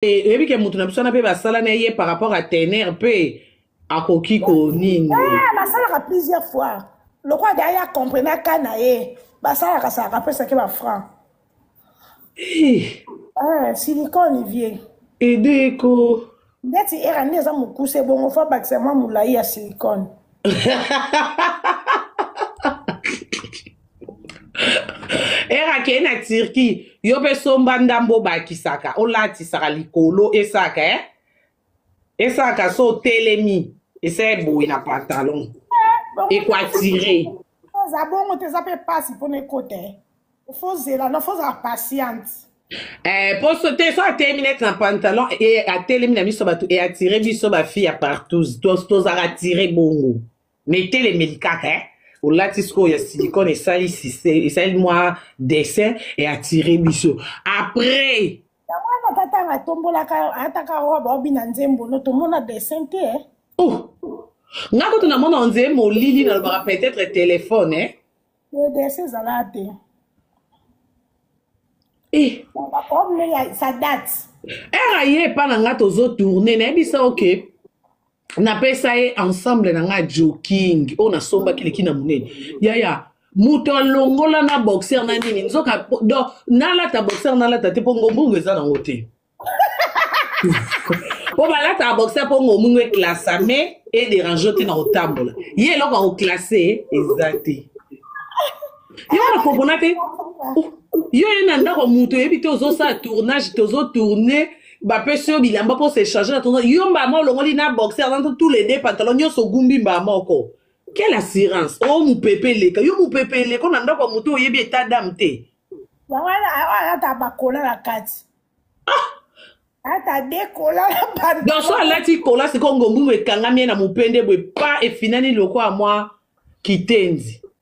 Eh, oyebi ke moto na biso wana mpe basala na ye par rapport à tener mpe akoki ko nini eh, basalaka plusieurs fois lokola da ye acomprena ka na ye basalaka salaka apesaki bafranc eh. silicone vie edeko ndeti era nde eza mokuse bongo fo abakisa mwa molai ya silicone ere akei na turquie yo mpe somba ndambo obakisaka olatisaka likolo esaka eh? esaka so otelemi esa eboye na pantalon ekwatire oza bongo te eza mpe mpasi mpona ekota eh? fozela no fozala patiente Eh, poso te so atelemi neti na pantalon e atelemi na biso bato e atire biso bafille ya partout tozala tire bongo na etelemeli kaka eh? olati sikoyo ya silicone esali esali mwa dessin e attire biso après yango wana tata anga atombolaka ataka robe obi na nzembo no tomona dessin te eh? oh. nga kutu namona onzee molili nalobaka peut-être telefone eh? edese ezala te eh. sa date era ye epa na nga tozotourne nayebisa oke okay. napesa ye ensemble na ngai joking oyo nasombaki leki na monene yaya moto alongola na boxer na nini nzoka do nalata boxer nalata te mpo ngombungu eza nango te mpo balataka boxer mpo ngombungu eklasa mais ederange te na kotambola ye eloko ya koklase eza te yo wana kompona te yo ye na ndako moto oyebi te ozosala tournage tozotourne bapesi yo bilamba mpo s'échange na tonton yo mbala moko olongoli na boxer na tous les deux pantalon nyonso ogumbi mbala moko quelle assurance o oh, mopepe eleka yo mopepe eleko na ndako ya moto oyebi eta dame te ata bakola na kati ah! ata dekola donc so alati kola sikoyo ngombumu ekangami ye na mopende boye pa efinani lokola mwa kitenzi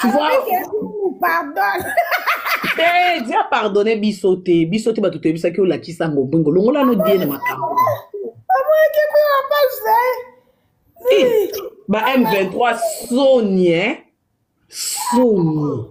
Tu vois Avec Ezoulou, pardon. te dia pardonne biso te biso te bato toyebisaki olakisa ngo bongo longola no die na makambo Omonaki mpe na page na ye. Eh, ba m23 soni eh? soni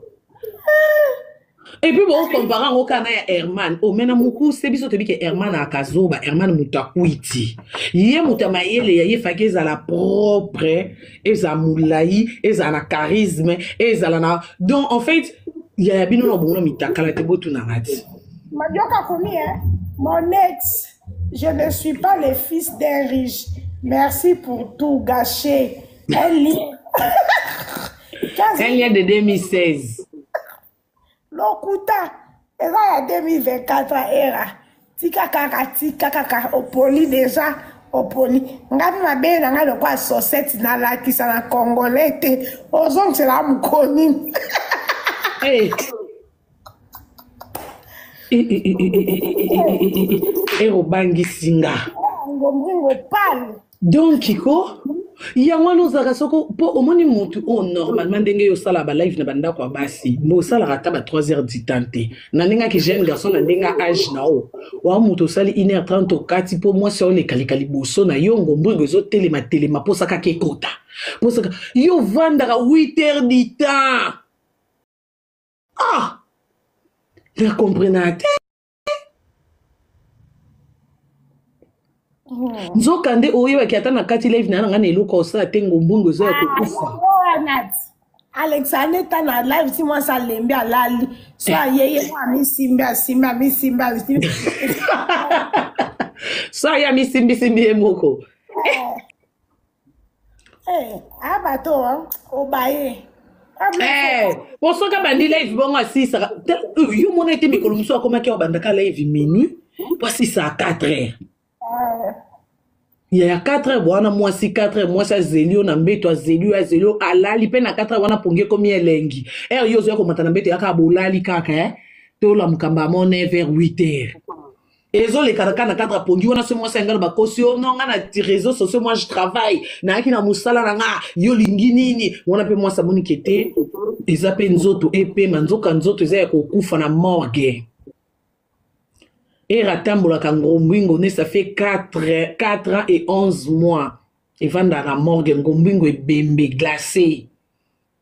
Et puis bon compare yango kaka na ya Herman omena mokuse biso toyebi ke Herman akazoba Herman moto akwiti ye moto ya mayele ya ye faki ezala propre ezala molai ezala na charisme ezala na donc en fait ya ya bino na bongo na mitakala te botunanga ti Majoka akomi eh, mon ex. Je ne suis pas le fils d'un riche. Merci pour tout gâché. Un lien. Un lien de 2016. Lokuta. Eza ya 2024 era. Tika kaka, tika kaka. Opoli déjà. oponi ngai mpe mabele na ngai lokola sosete nalakisa na congolais te ozongisela mokoni eh. erobangisi nga ngombringo pale donc ko yango wana ozalaka soko mpo omoni motu oyo oh, normalement ndenge yo osalaka balive na bandako ya basi mbo osalaka ata ba 3 heures du temps te na ndenge aki jeune garçon na ndenge age na yo wa moto osali 1 heure 30 okati mpo mwasi yango lekaleka liboso na yo ngombringo ezotelema telema mposa kaka ekota mposaka yo ovandaka 8 heures du temps ah na comprena te hmm. nzoka nde oyebaki ata na kati live na nanga na eloko osala te ngombungu eza ya ah, kokufa alexandre ta na live ti mwasi alembi alali so eh. ayeye mwa amisimbi asimbi amisimbi asimbi so aye amisimbisimbi ye moko eh. Hey, eh, ah, bato obaye eh, po soki abandi live bongo asisaka yo mona ete mikolo mosusu akomaki abandaka live minuit po asisaka 4 heures ah. ya ya 4 heures bwana mwasi 4 heures mwasi azeli yo na mbeto azeli yo azeli yo alali mpe na 4 heures wana pongi ekomi elengi heure yo ozoya komata na mbeto yaka bolali kaka eh? tolamuka mbamo 9 heures 8 heures ezoleka kaka na kaka pongi wana se mwasi yanga na bakosi yo no nga na réseau sociaux moi je travaille nayaki na mosala na nga yo lingi nini wana mpe mwasi amoni ke te eza mpe nzoto epema nzoka nzoto eza ya kokufa na morgue ere atambolaka ngombwingo ne ça fait 4, 4 ans et 11 mois evandaka na morgue ngombwingo ebembe glacee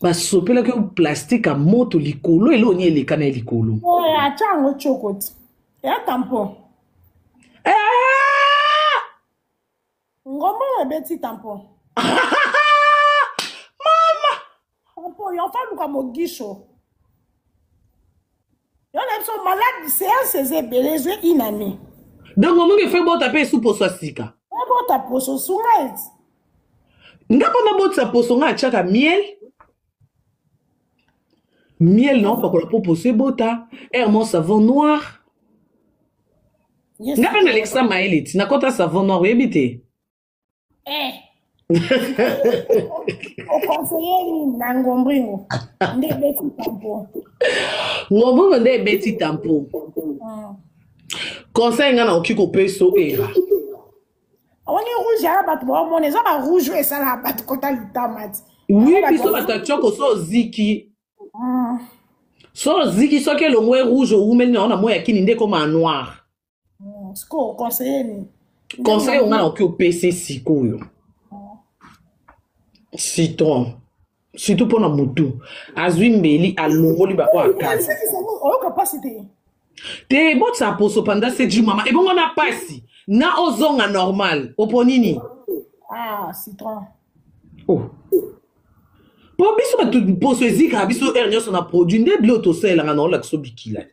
basopelaki yo plastique ya moto likolo eloko nini eleka na ye likolo eh, atya yango cokoti ya tampon eh! ngombo ebeti tampon mama tampon yo afa luka mogisho Yo na biso malade séance eza ebele ezwe une année. Donc omongi efo ebota mpe esu poso ya sika. Ebota poso sunga eti. Nga mpo nabotisa poso nga atyaka miel. Miel na opakola mpo poso ebota. Hermon savon noir. Nga mpe nalekisa mayele ti nakota savon noir oyebi te. eh. oconseille nini na ngombringo nde ebeti tampo ngombringo nde ebeti tampo ah. conseil ngai nakoki kopesa era oni rouge ya bato baomona eza ba rouge oyo esalaka bato kota litama ti wi biso bato ya tioko so oziki ah. so oziki soki elongwe rouge owumeli na yo na moi ya kini nde ekoma noire Mm, sikoyo conseiller nini conseil oyo ngai nakoki opesa sikoyo citron surtout mpo na motu azwi mbeli alongoli baoyo akaza oyoka mpasi te te botisa poso panda seji mama ebongo na mpasi na ozonga normal opo nini ah, citron oh. mpo biso bato poso ezikaka biso heure nyonso na produit nde bilo tosalelaka na olakisa obikila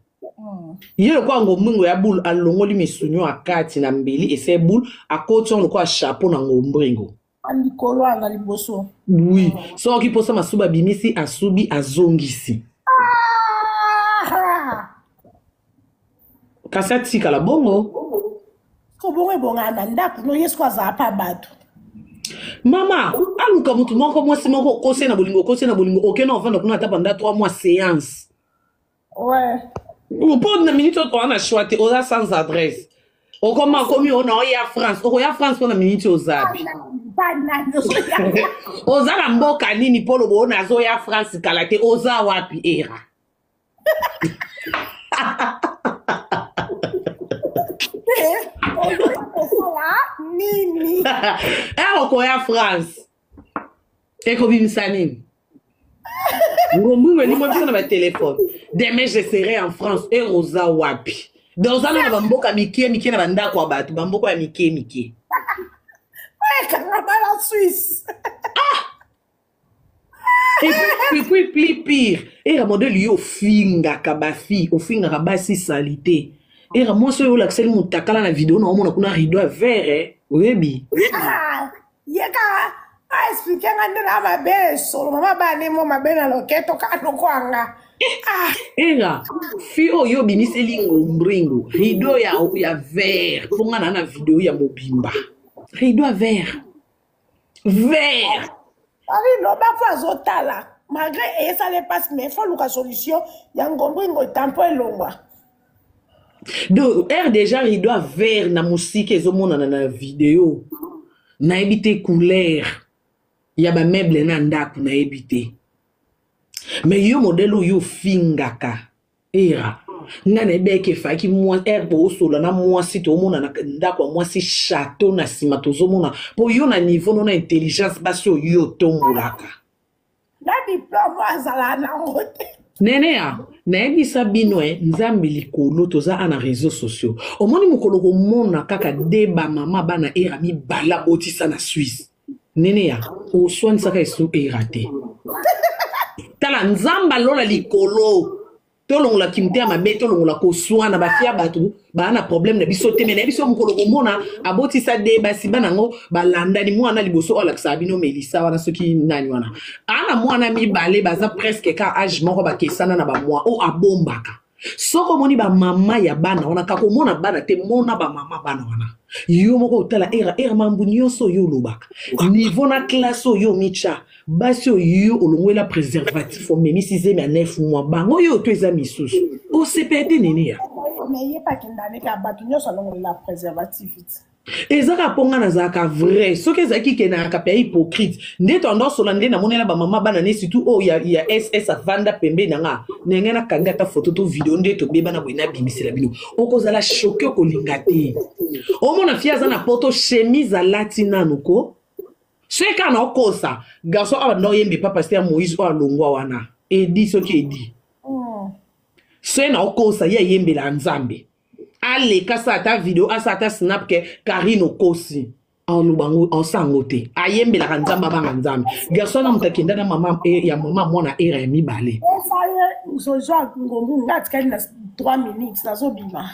ye lokola ngombringo ya boule alongoli misuni oyo akati na mbeli ese boule akoti yango lokola chapeau na ngombringo likolo anga liboso oui soki mposa masuba abimisi asubi azongisi ah! kasi atikala bongo kobongo ebongana na ndako no yesu ko azala mpe bato mama aluka motu moko mwasi moko okose na bolingo okose na bolingo okena ovanda kuna ata banda 3 mois seance Ouais. mpo na minute oyo oza na choix te oza sans adresse okoma akomi ona oya france okoya france mpo na minute ozabi oza na mboka nini mpo lobo ona azoya france kala te oza wapi era nini eh, okoya france ekobimisa nini ngombungu elimo biso na batelefone demain je serai en france e rosa wapi donc oza nana bamboka mikie mikie na bandako ya bato bamboka ya mikie mikie ekangabala suisse ah! epuis pli pire era modele yo ofingaka bafille ofingaka basi salite era mwasi oyo olakiseli motakala na video na omona kuna rido ya vere oyebi ah! ye kaka aexplike nga nde na mabele solo mama bane mo mabele na loketo kaka nokwanga ah. era fi oyo obimiseli ngombringo rido ya, ya vert mpo nga na na video ya mobimba rido ya vert vert arido bafo azotala malgré eyesala epasi mais fo luka solution ya ngombringo etampo elongwa donc heure déjà rideau ya vert na mosika ezomonana na video nayebi te couleur ya bameuble na ndako nayebi te me yo modele oyo ofingaka era nga nayebi eke efaki heure boosola na mwasi toomona na ndako ya mwasi chateau na nsima tozomona mpo yo na niveau no na intelligence basi oyo otombolaka na diplome azala nango te nenea nayebisa bino e nzambe likolo toza a na réseau sociaux omoni mokolo komona kaka de bamama bana era mibala botisa na suisse nenea oswanisaka esu era te tala nzambe alola likolo tolongola kimotema mabe tolongola koswana basi ya bato baa na problème na biso te me na biso mokolo komona abotisa de basi bana yango balandani mwana liboso oyo alakisaka bino melisa wana soki nani wana aa na mwana mibale baza presque ka age moko bakesana na bamwa oyo abombaka soki omoni bamama ya bana wana kaka omona bana te mona bamama bana wana yo moko otala era era mambo nyonso oyo olobaka nivo na klase oyo omitya basi oyo yo olongwela préservatif omemisi zemi ya 9 mois bango oyo to eza misusu osepede nini ya ezaka mpo ngai nazalaka vrai soki ezalaki ke nayaka mpe ya hypocrite nde tondosola nde namonela bamama bana ne surtout oyo ya, ya ss avanda pembeni na nga ndenge nakangi ata foto to video nde tobeba na boye nabimisela bino okozala shoke okolinga te omona fie aza na poto chemise alati nanu ko soki kaka naokosa garçon awa nda oyembe pa paster ya moïse oyo alongwa wana edi soki edi oh. soki naokosa ye ayembela nzambe aleka sa ata video asa ata snap ke karine okosi aloba ngo osango te ayembelaka nzambe abanga nzambe garso wana moto akenda na mama eh, ya mama mwana era ya mibale ozozwa ngombu nga atikali na 3 minutes nazobima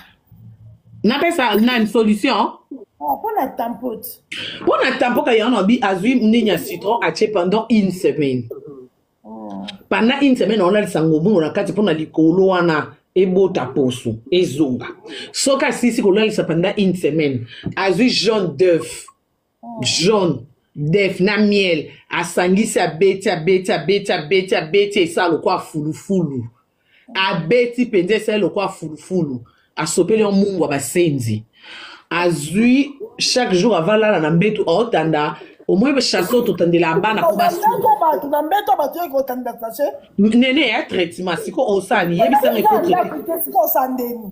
napesa nani solution mpo ah, na tampote mpo na tampoka yango abi azwi nini ya citron atie pendant une semaine oh. pendant une semaine aolalisa ngobungo na kati mpo na likolo wana ebota poso ezonga soki asisi kolalisa pendant une semaine azwi jaune d'oeuf jaune def na miel asangisi abeti abeti abeti abeti abeti esala lokola fulufulu abeti mpenza esali lokola fulufulu asopeli yo mungwa basenzi azwi chaque jour avalala na mbetu aotanda omoi chasse oyo totandela bana mpo bato na mbetu ya bato yoki kotanda sache nene ya traitement sikoyo osani yebisanga ekotraite sikoyo osandeni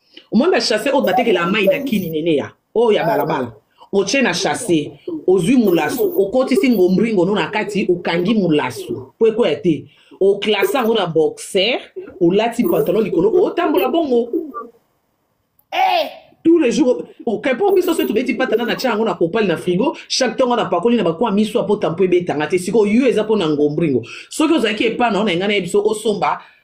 omoni bashase oyo batekela mai na kini neneya oyo ya balabala otie na shase ozwi molaso okotisi ngombringo no na kati okangi molaso po ekweya te oklase yango na boxer olati pantalon likolo otambola bongo hey! Eh! tous les jours okapo biso soki tobeti patana na tia yango na kopale na frigo chaque ntango na pakoli na bakwa miso apota mpo ebetanga te sikoyo yo eza mpo na ngombringo soki ozalaki epa na yo na engai na ye biso osomba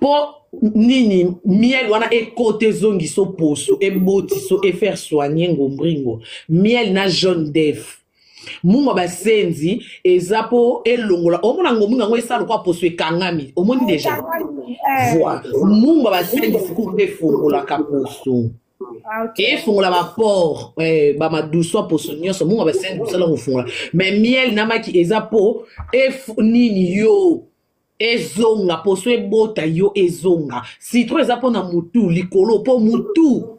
mpo nini miel wana ekota ezongisa oposo ebotiso efaire soigne ngombringo miel na jaune def mungwa basenzi eza mpo elongola omona ngombringo yango esala lokwa poso ekangami omoni deja eh. voi mungwa basenzi sikoyo mpe efungolaka poso Ah, okay. efungola baport eh, bamaduswa poso nyonso mongo basene kosala kofungola me miel na maki eza mpo efu nini yo ezonga poso ebota yo ezonga citron eza mpo na mutu likolo mpo mutu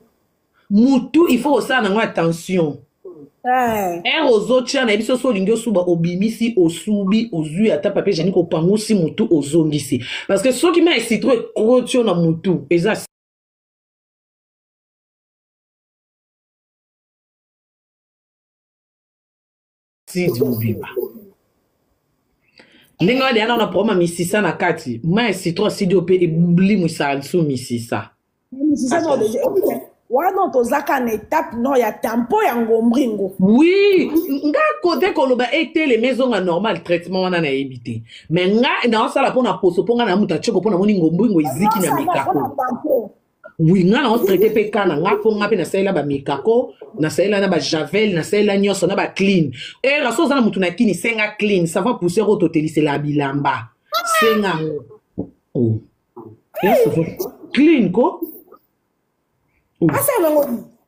mutu il faut kosala nango attention ere eh. ozotya na biso so olingi osuba obimisi osubi ozwi ata papie jani kopangusi motu ozongisi parce que soki mai citro ekrotio na motu eza Steve Mobimba. ndenge wana deya nao na problème ya misisa na kati mai ya citron studio mpe elimwisaka lisu misisa wana tozaka na etape no ya tempo ya ngombringo oui nga kote koloba etelema ezonga normal traitement wana nayebi te mai nga naosala mpo na poso mpo nga na moto atyeko mpo namoni ngombringo eziki na mikako oui nga nango traite mpe ka na nga mpo nga mpe nasalela bamikako nasalela na bajavel nasalela nyonso na baclean era so oza na motu na kini senga clean sava poussière oyo totelisela bilamba senga yango oh. clean ko oh.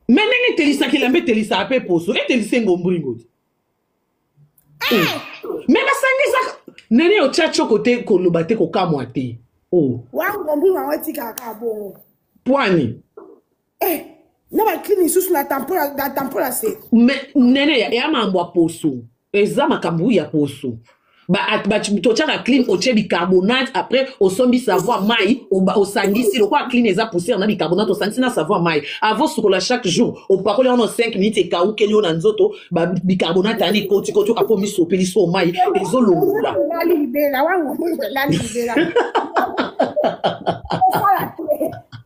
me ndenge etelisaka elamba etelisaka mpe poso etelisa engombringo te Eh! me basangisaka nene otya coko te koloba te kokamwa te oh. wango mbuma yango etikaka kaka bongo pwani eh, na baklini lisusu na tampola se nene ya mambo ya poso eza makambo ya poso totyaka clean otye bicarbonate après osombi savoir mai osangisi lokola clean eza poussière na bicarbonate osangisi na savoir mai avant sukola chaque jour opakoli yango na 5 minutes ekaukeli yo na nzoto bicarbonate yani ekotikoti oka mpo miso opeli so mai ezolongola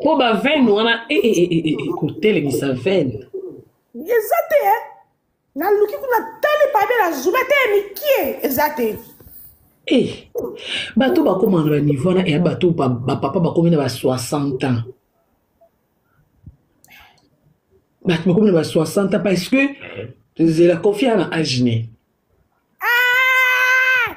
mpo bavene wana eh, eh, eh, kotelemisa vene eza te naluki kuna tali pabe na zuba te ya mikie eza te e bato bakoma na baniveau wana ya bato bapapa bakomi na ba 60 ans bato bakomi na ba 60 ans parce que zela kofi ana age ne ah!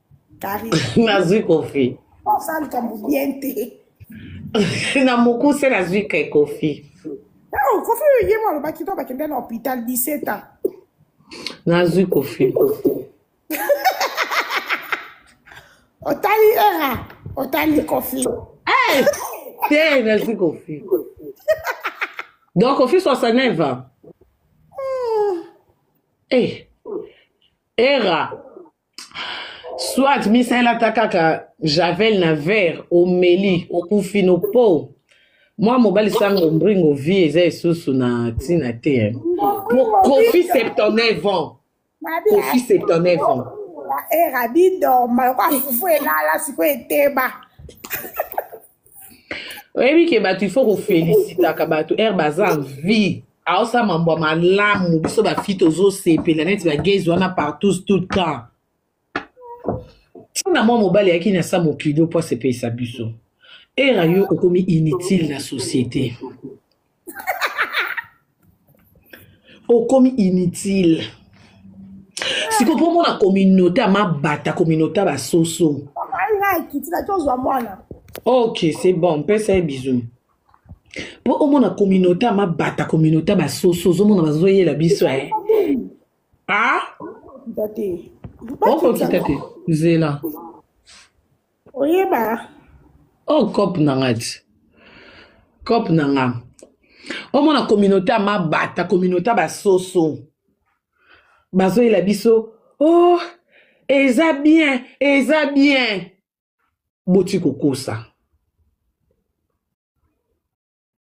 nazwi kofi osa likambo bien te na mokuse nazwi ke kofi oh, kofi oyo ye mo alobaki to bakende na hôpital 17 ans nazwi kofi otali era otali kofi eh, te nazwi kofi donc kofi 69 ans hmm. eh, era soit misaela ata kaka javel na vert omeli okufi no po mwa mobali sango mbringo vie eza esusu na ntina te po kofi septonneuf ans kofi septonneuf ans era bidoma lokola fufu elala sikoyo eteba oyebi ke bato il faut kofelisitaka bato ere baza vie aosala mambo ya malamu biso bafi tozosepela neti bagezi wana partout tout le temps ntina mwa mobali ayaki na sa mokili mpo asepelisa biso era yo okomi inutile na société okomi inutile siko mpo mona communauté ya mabata communauté ya basoso ok c'est bon mpesa ye bisou mpo omona communauté ya mabata communauté ya basoso ozomona bazoyela biso e a okokita te zela oyeba o oh, cop na nga ti cop na nga omona communauté ya mabata communauté ya basoso bazoyela biso oh eza bien eza bien boti kokosa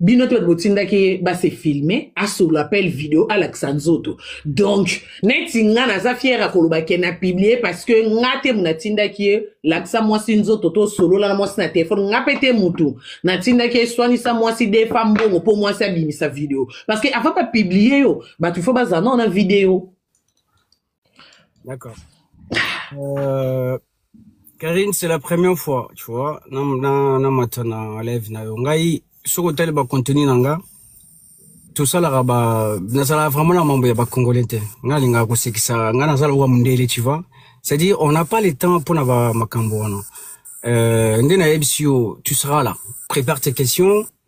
bino te bato botindaki ye base filme asolo appel video alakisa nzoto donc neti nga naza fiere ya koloba ke na publie parce que nga te moto natindaki ye lakisa mwasi nzoto to solola na mwasi na telefone nga mpe te motu natindaki ye swanisa mwasi defa mbongo mpo mwasi abimisa video parce que avant bapiblie yo bato fo bazala nao na video D'accord. Euh, Karine, c'est la première fois, tu vois, na na na matana live na yo. Ngai soko tali ba contenu na nga. tosalaka ba nazalaka vraiment na mambo ya bacongolais te ngai alingaka kosekisa ngai nazala owa mondele tu vois c'est-à-dire on n'a pas le temps mpona ba makambo wana euh, nde nayebisi yo tu seras là prépare tes questions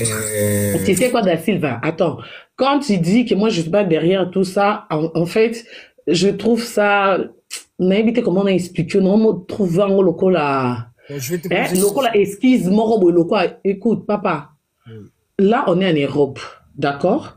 Euh... Tu sais quoi, Da Silva Attends, quand tu dis que moi je suis pas derrière tout ça, en, en fait, je trouve ça. nayebi te comment naexplike na omotrouve yango lokola eh, lokola esquise moko boye lokola écoute papa là on est en europe d'accord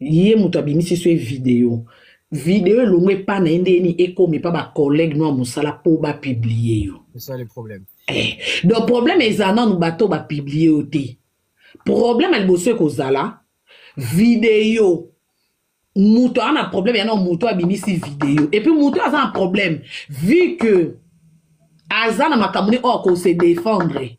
ye moto abimisi so ye video video elongo epa na ye nde yeni ekoma epa bacollègue no ya mosala mpo bapiblie yo eh, donc problème eza nanu bato oyo bapiblie yo te problème ya liboso ekozala video moto aza na problème yana moto abimisi video epuis moto aza na problème vu que aza na makambo ne oyo akose défendre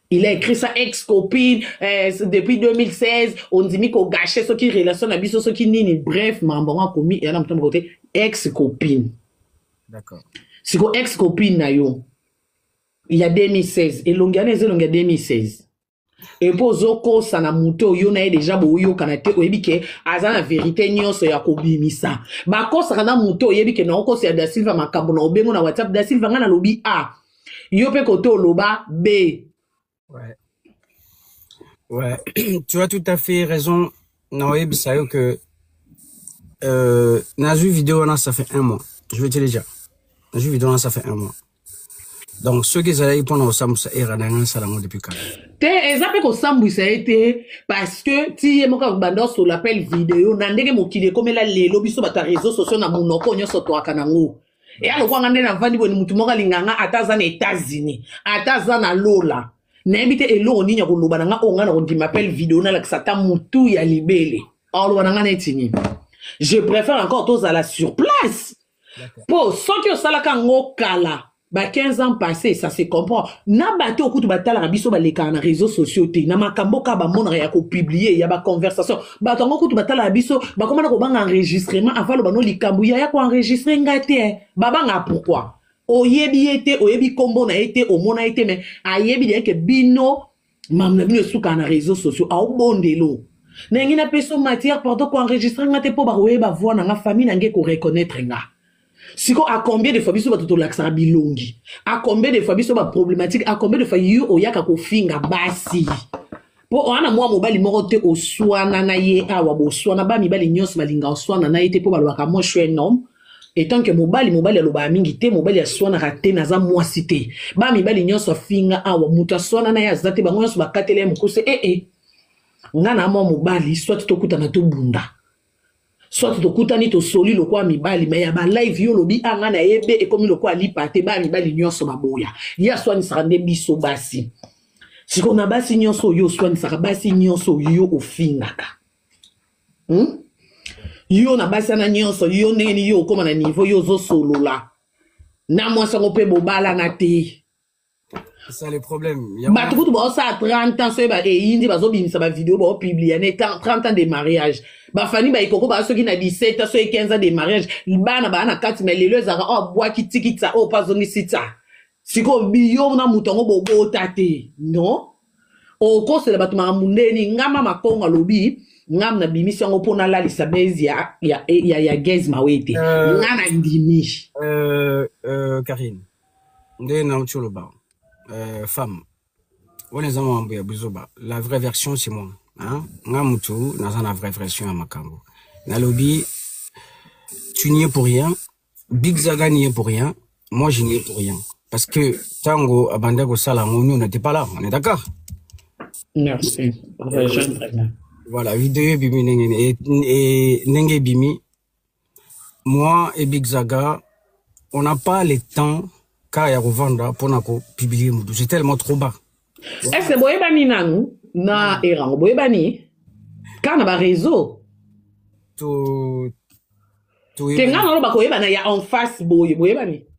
il a écrit ça ex copine eh, depuis 2016 ondimi kogashe soki relation na biso soki nini bref mambo yango akomi eya na moto moko te ex copine d'accord siko ex copine na yo ya 2016 elongi wana eza elongi ya 2016 epo ozokosa na moto oyo na ye deja boyokana te oyebi ke aza na verite nyonso ya kobimisa bakosaka na moto oyebi ke naokosa ya da silva makambo na obengo na whatsapp da silva ngai nalobi a ah, yo mpe kote oloba be ouais. Ouais. tu as tout à fait raison na oyebisa yo que euh, nazwi video wana ça fait un mois je vais te le dire nazwi video wana ça fait un mois donc soki ezalaki mpo na kosambwisa era na yango asala yango depuis kala te eza mpe kosambwisa ye te parce que ti ye moko akobanda osola appel video na ndenge mokili ekomela lelo biso bato ya réseau sociaux na monoko nyonso toaka nango eya lokola nga nde navandi boye motu moko alinga nga ata aza na etats-unis ata aza na lola nayebi te eloko nini ya koloba na nga oyo nga na kondima pele video nalakisa ata motu ya libele akoloba na nga neti nini je préfère encore tozala sur place mpo soki osalaka yango kala ba 15 ans passé ça se comprend na bato okutu batalaka biso balekaka na réseau sociaux te na makambo kaka bamonaka ya kopublie ya baconversation bato yango kutu batala na biso bakoma na kobanga enregistrement ava loba no likambo yaya koenregistre nga te eh. babanga pourkui oyebi ye te oyebi nkombo na ye te omona ye te me ayebi deyeke bino mamu na bino esukaka na réseau sociaux aobondelo nayangi na peso matière pardon koenregistre nga te mpo bakoyeba voi na nga famille na nga ekoreconnaitre nga siko a combien de fois biso bato tolakisaka bilongi a combien de fois biso baproblématique a combien de fois yo oyaka kofinga basi mpo wana mwa mobali moko te oswana na ye awa boswana ba mibali nyonso balinga oswana na ye te mpo balobaka moi suis un homme etant que mobali mobali alobaka mingi te mobali aswanaka te naza mwasi te ba mibali nyonso afinga awa moto aswana na ye aza te bango nyonso bakateli ye mokuse ee eh, eh. nga na mwa mobali soit tokutana tobunda soit tokutani tosoli lokola mibali me ya balive yo olobi a ah, ngai nayebe ekomi lokola lipa te baya mibali nyonso baboya ye aswanisaka nde biso basi sikoyo na basi nyonso oyo oswanisaka basi nyonso yo ofingaka hmm? yo na basi wana nyonso yo ndenge nini yo okóma na niveau yo ozosolola na mwasi yango mpe bobalana te bato kutu baosala 30 ans soki eyindi bazobimisa bavideo baopiblia ne 30 ans de mariage bafani baikoko baa soki na 17 ans soki 15 ans de mariage bana baa na kati me lelo ezalaka oyo oh, abwaki tikitsa oyo oh, mpo azongisi tsa sikoyo biyo na moto yango bobota te non okosela bato makambo ndeni ngama makongo alobi ngam na bimisi yango mpo nalalisa base ya, ya, ya, ya gaz mawe te euh, nga na ndimi euh, euh, karine nde nauti oloba euh, femme wana eza mambo ya buzoba la vraie version c'est moi hein? nga mutu naza na vraie version ya makambo nalobi tu n'y es pour rien big zaga n'y est pour rien moi je n'y ai pour rien parce que tango abanda kosala yango nous n'était pas là on est d'accord merci voilà video ebimi ndenge ndenge ebimi moi et Big Zaga, on n'a pas le temps car ya kovanda pour na ko publier mutu. C'est tellement trop bas. Est-ce que boyebani nanu na erango boyebani car na ba réseau to to tenga na ba koyebana ya en face boye boyebani.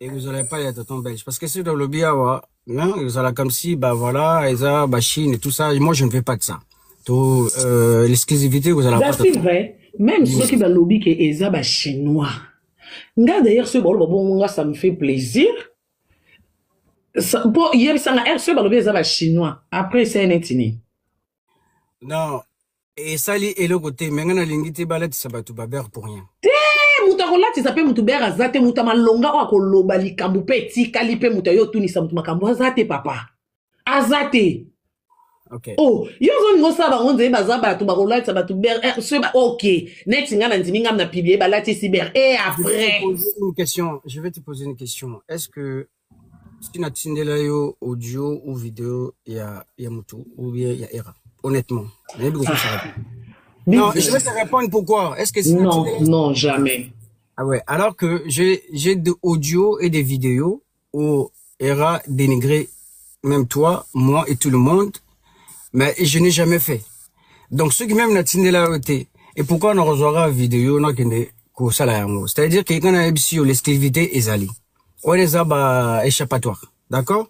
ekozala epai ya tonton belge parce que soki tolobi awa ezala comme si ba voilà eza ba chine tout ça moi je ne veux pas de ça to euh, l'exclusivité ekozala c'est vrai même soki balobi ke eza ba chinois nga d'ailleurs soki baloba bongo nga ça me fait plaisir mpo yebisanga r soki balobi eza ba chinois après esa neti nini non esali eloko te me ngai nalingi te balatisa bato babere pour rien te moto akolatisa mpe moto bere aza te moto ya malonga oyo akoloba likambo mpe etikali mpe moto ayo otunisa moto makambo aza te papa aza te Okay. Oh, yo ozolinga osala bango nzeye baza bato bakolatisa bato ber eh, ok neti ngai nandimi ngai na piblie balatisi ber e eh, après une question je vais te poser une question est ce que si natindela yo audio ou video ya, ya mutu ou bien ya era honnêtement nayebi kokosaka ah. non je vais te répondre pourquoi est ce que si non non jamais ah ouais alors que j'ai j'ai de audio et des vidéos où era dénigré même toi moi et tout le monde mais je n'ai jamais fait donc ceux qui même natindela yo te et pourquoi on reçoira vidéo nakende kosala yango c'est à dire que nga nayebisi yo l'esclavité ezali wana eza ba échappatoire d'accord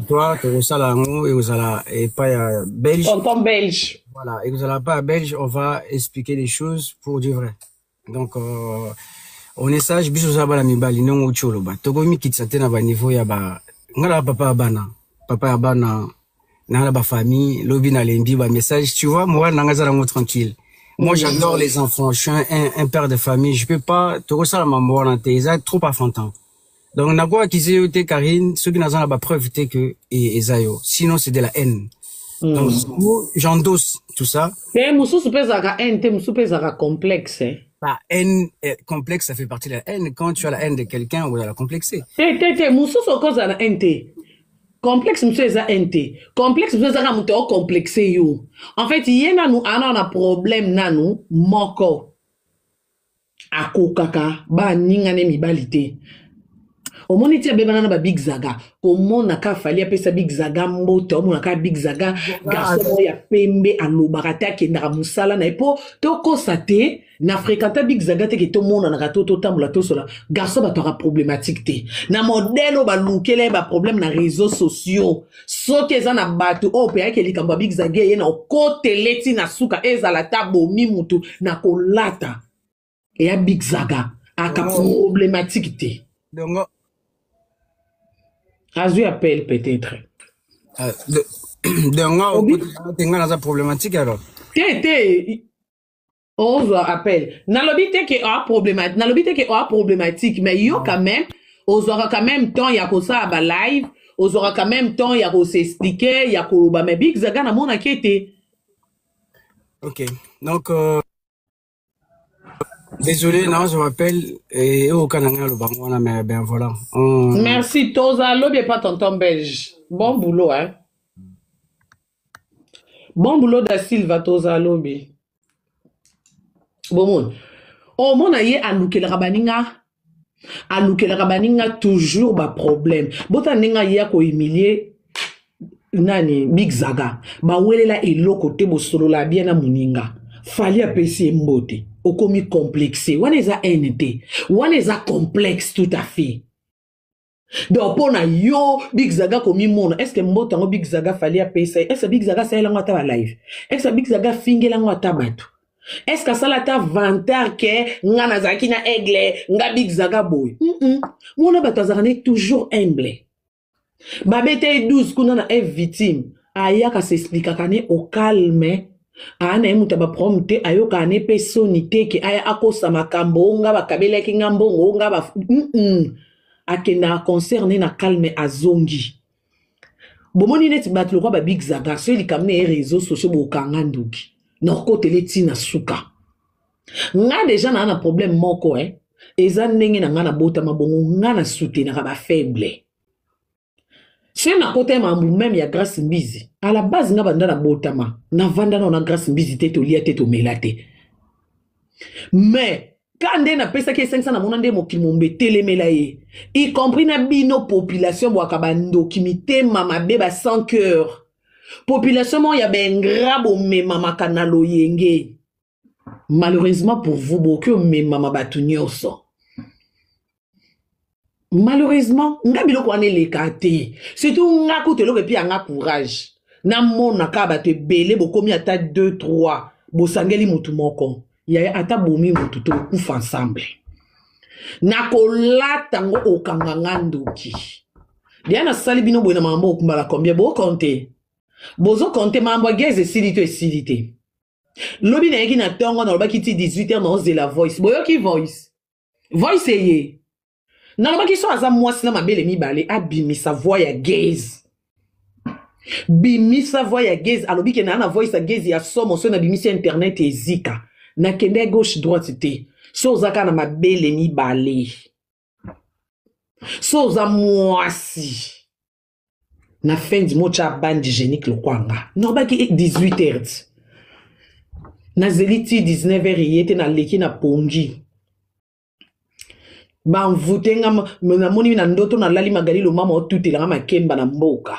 toi tokosala yango ekozala epai ya belge tonton belge voilà ekozala epai ya belge on va expliquer les choses pour du vrai donc euh, on est sage biso oza bana mibali ndenge outi oloba tokomi mikitisa te na baniveau ya ba ngai na papa ya bana papa ya bana na la ba famille lobi na lendi ba message tu vois moi nanga za nango tranquille moi j'adore les enfants je suis un, un, un père de famille je peux pas toko sala mambo wana te eza trop enfantin donc na quoi kizi yo te Karine soki naza na ba preuve te que e, eza yo sinon c'est de la haine mm. donc j'endosse tout ça mais mususu pesa ka haine te mususu pesa ka complexe hein? La haine euh, complexe, ça fait partie de la haine. Quand tu as la haine de quelqu'un, on va la complexer. T'es, t'es, t'es, Moussous, au cause de la haine, t'es. complexe mosusu eza haine te complexe mosusu ezaka moto ocomplexe yo en fait ye nanu ana na problème nanu moko akokaka baningane mibali te omoni ti abebana na babig zaga komona ka fali apesa big zaga mbote omona ka big zaga garçon ya pembe alobaka te akendaka mosala na ye mpo tokosa te na fréquenta big zaga te ke tomonanaka to totambola tosola garçon batwaka problématique te na modele oyo balukela ye baproblème na réseau sociaux soki eza na bato oyo mpe ayeke likambo ya big zaga eye na okotele ti na suka ezala ta bomi motu na kolata eya big zaga aka problématique te dongo azwi appel peut-être ah, dongo okotinga naza problématique alors te te ozwa appel nalobi te ke oa problema nalobi te ke oa problematique mais yo quand même ozwaka quand même temps ya kosala ba live ozwaka quand même temps ya kosexplike ya koloba mais big zaga namonaki ete ok donc euh... Désolé, non, je m'appelle et au Canada, le Bangwana, mais ben voilà. On... Merci, Toza, l'objet pas tonton belge. Bon boulot, hein. bon boulot da silva toza lobi bomoni omona ye alukelaka baninga alukelaka baninga toujours baproblème bota ndenge aye akohumilie nani big zaga bawelela eloko te bosolola bia na moninga fali apesi ye mbote okomi complexe wana eza haine te wana eza complexe tout à fait donc mpo na yo big zaga komimona estce mboto yango big zaga fali apesa ye estce big zaga asalela yango ata balive estce big zaga afingela yango ata bato estce asala ata vantar ke nga nazalaki na aigle nga big zaga boye mm -mm. mona bato azalaka ne toujours humble babeta ye 12 kuna na eve victime ayaka sesplikaka ne au calme aa na ye moto ya baprome te ayokaka ne mpe soni te ke aya akosa makambo o nga bakabelaki nga mbongo o nga ba mm -mm. akendaka concert ne na calme azongi bomoni neti bato lokwa babig zaga soki likambo na ye réseau sociaux bokanga ndoki na okotele ti na suka nga deja naa na problème moko eh. eza ndenge na nga nabotama bongo nga na soutenaka bafaible soki nakota ya mambu meme ya grace mbizi à la base nga banda nabotama navanda nao na grace mbizi te tolia te tomela te mais ka nde napesaki esengisa namona nde mokili mombe etelemela ye y compris na bino population bwaka bandoki mitema mabe ba sans cœur population moko ya baingra bomemamaka na loyenge malheureusement pour vous bokoki omemama bato nyonso malheureusement nga biloko wana eleka te surtout nga kutu eloko epi yanga courage namona kaka bato ebele bokomi ata 2 3 bosangeli motu moko yaya ata bomi motu tokufa ensemble nakolata ngo okanga nga ndoki deya nasali bino boye na mambo okumbala combien bokonte bozokonte mambo ya gaz esili to esili te lobi nayeki na ntongo nalobaki ti 18 heure naozela voice boyoki voice voice eye nalobaki so aza mwasi na mabele mibale abimisa voi ya gaze bimisa voi ya gaze alobi ke naa na voice ya gaze ya somo so nabimisi ya internet ezika nakende ya gauche droite te so oza kaka na mabele mibale so oza mwasi na fendi motya bandi genique lokola nga nobaki 18 heures nazeli ti 19 heures eye te naleki na pongi banvute nga namoni na ndoto nalali magali lomama otutelanga makemba na mboka